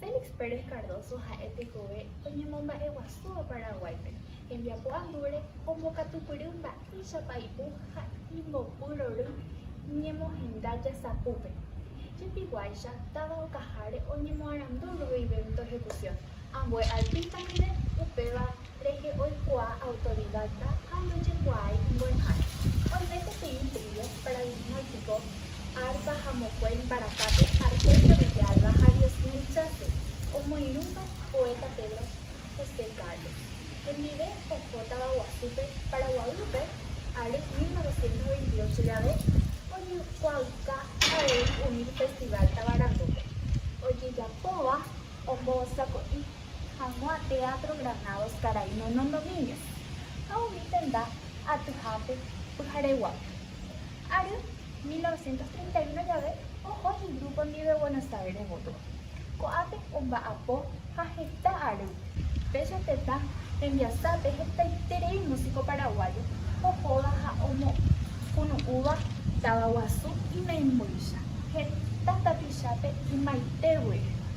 Félix Pérez Cardoso ha'e tekove oñemomba'eguasúva Paraguáipe, hembiapo andúre ombokatupyry mba'éichapa ipu ha imbopyrory ñemohenda jasapúpe. Jepihuáicha, táva okaháre oñemoarandu ruvivénto ejecución. Ambue artísta ndive upéva rehe oikuaa autodidacta ha ndojekuaái imbo'ehára. Oime peteĩ trío, paradigmático, arpa ha mokue imbaracápe Argelia Villalba ha Diosmil Chávez, omoirũva poeta Pedro José Carlos, hendive oho tavaguasúpe Paraguaýpe ary 1928 jave oñekuaauka avei umi Festival Tavarandúpe ojejapóva ombosako'i hag̃ua Teatro Granados karai Nono Domínguez ha umi tenda atyhápe pyhareguápe. Ary 1931 jave oho igrupo ndive Buenos Aires gotyo. Ko'ápe omba'apo ha heta ary péicha tetã rembiasápe hetaiterei músiko paraguáyo ohóva ha omokunu'úva táva guasu imembyja heta tapichápe ymaite guére.